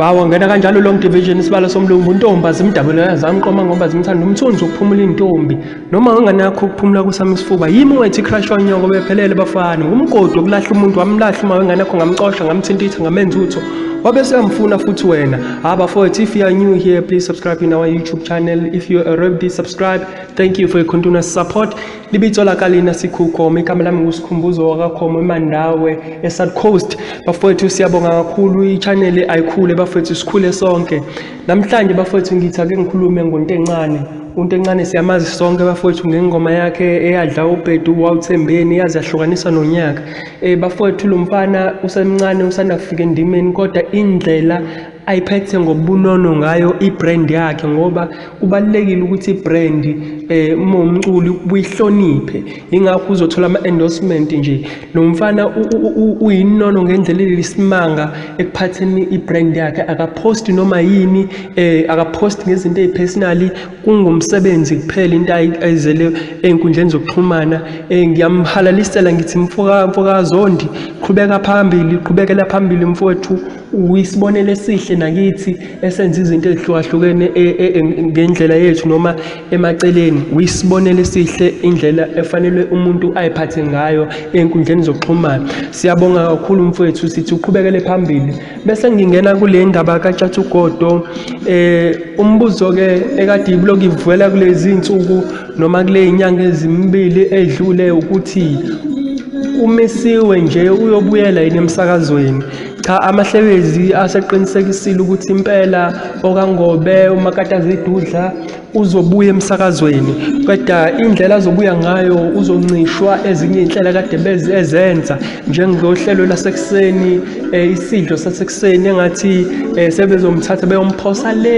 Mawa ngena kanjalo long division isibalo somlungu untombi azimdabule azamqoma ngoba zimthanda umthunzi ukuphumula intombi noma unganakho ukuphumula kusami isifuba yimi wethi crush wanyoko bephelele bafana ngumgodi okulahla umuntu wamlahla uma wenganakho ngamcosha ngamthintitha ngamenza utho wabe seyamfuna futhi wena haba ah, for if you are new here please subscribe in our youtube channel if you already subscribe Thank you for your continuous support. Libitso la ka lena Sikhuko, mme igama lami nguSikhumbuzo wakakhomo eMandawe, eSouth Coast. Bafowethu siyabonga kakhulu i-channel ayikhule bafowethu sikhule sonke. Namhlanje bafowethu ngithi ake ngikhulume ngonto encane. Unto encane siyamazi sonke bafowethu ngengoma yakhe eyadla ubhedu wawuthembeni yaze yahlukanisa nonyaka. Eh bafowethu lo mfana usemncane usanda kufika endimeni kodwa indlela ayiphethe ngobunono ngayo i-brand yakhe ngoba kubalulekile ukuthi i-brand eh uma umculi uyihloniphe ingakho uzothola ama-endorsement nje lo mfana uyinono ngendlela elisimanga ekuphatheni i-brand yakhe akaphosti noma yini eh akaphosti ngezinto ezipersonally kungumsebenzi kuphela into ayizele ezinkundleni zokuxhumana eh, ngiyamhalalisela ngithi mfoka mfokazondi qhubeka phambili qhubekela phambili mfowethu uyisibonelo esihle nakithi esenza izinto ezihlukahlukene e, e, e, ngendlela yethu noma emaceleni uyisibonelo esihle indlela efanele umuntu ayiphathe ngayo enkundleni zokuxhumana siyabonga kakhulu mfowethu sithi uqhubekele phambili bese ngingena kule ndaba katshathugodo um umbuzo-ke ekade ibuloku ivela kulezi nsuku noma kule inyanga ezimbili edlule ukuthi umisiwe nje uyobuyela yini emsakazweni cha amahlebezi aseqinisekisile ukuthi impela okangobe umakatazidudla uzobuya emsakazweni kodwa indlela azobuya ngayo uzoncishwa ezinye inhlelo kade bezi ezenza njengohlelo lasekuseni eh, isidlo sasekuseni engathi eh, sebezomthatha beyomphosa le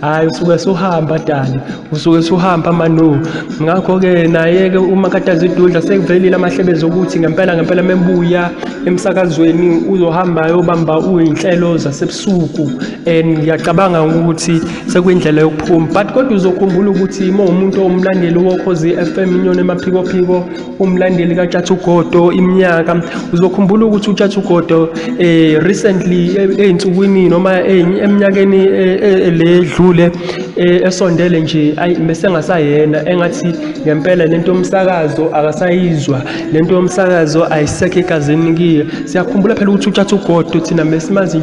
hhayi usuke suhamba dali usuke suhamba manu ngakho-ke naye-ke uma kade azidudla sekuvelile amahlebezi okuthi ngempela ngempela mebuya emsakazweni uzohamba yobamba uyinhlelo zasebusuku and ngiyacabanga ukuthi sekuyindlela yokuphuma but kodwa uzokhumbula ukuthi uma umuntu owumlandeli wokhozi FM inyoni emaphikophiko umlandeli kaTshatha uGodo iminyaka uzokhumbula ukuthi uTshatha uGodo eh recently ezinsukwini noma eminyakeni ledlule esondele nje ayi mesengasayena engathi ngempela lento yomsakazo akasayizwa lento yomsakazo ayisekho egazini kiyo siyakhumbula phela ukuthi uTshatha uGodo thina besimazi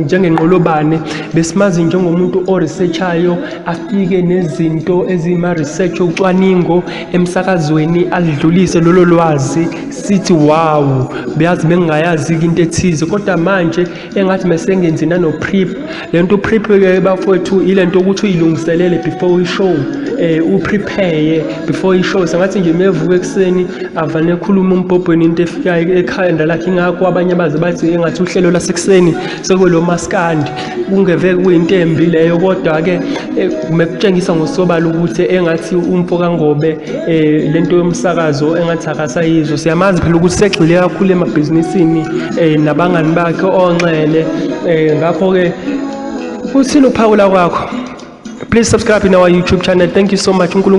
njengenqolobane besimazi njengomuntu o-researchayo afike nezinto ezima-research ocwaningo emsakazweni alidlulise lolo lwazi sithi wawu beyazi bengingayazi into ethize kodwa manje engathi mesengenzi nano prep lento prep ke bafowethu ilento ukuthi uyilungiselele before i show eh u prepare before i show sengathi nje mevuka ekseni avane ekhuluma umbhobhweni into efikayo ekhanda lakhe ingakho abanye baze bathi engathi uhlelo lasekuseni sekwelo maskandi kungeve kuyinto embi leyo kodwa-ke eh, mekutshengisa ngosobala ukuthi engathi umfo kangobe um le nto yomsakazo engathi akasayizwa siyamazi phela ukuthi segxile kakhulu emabhizinisini um nabangani bakhe onxele um ngakho-ke kuthini ukuphawula kwakho please subscribe in our youtube channel thank you so much unkulunkulu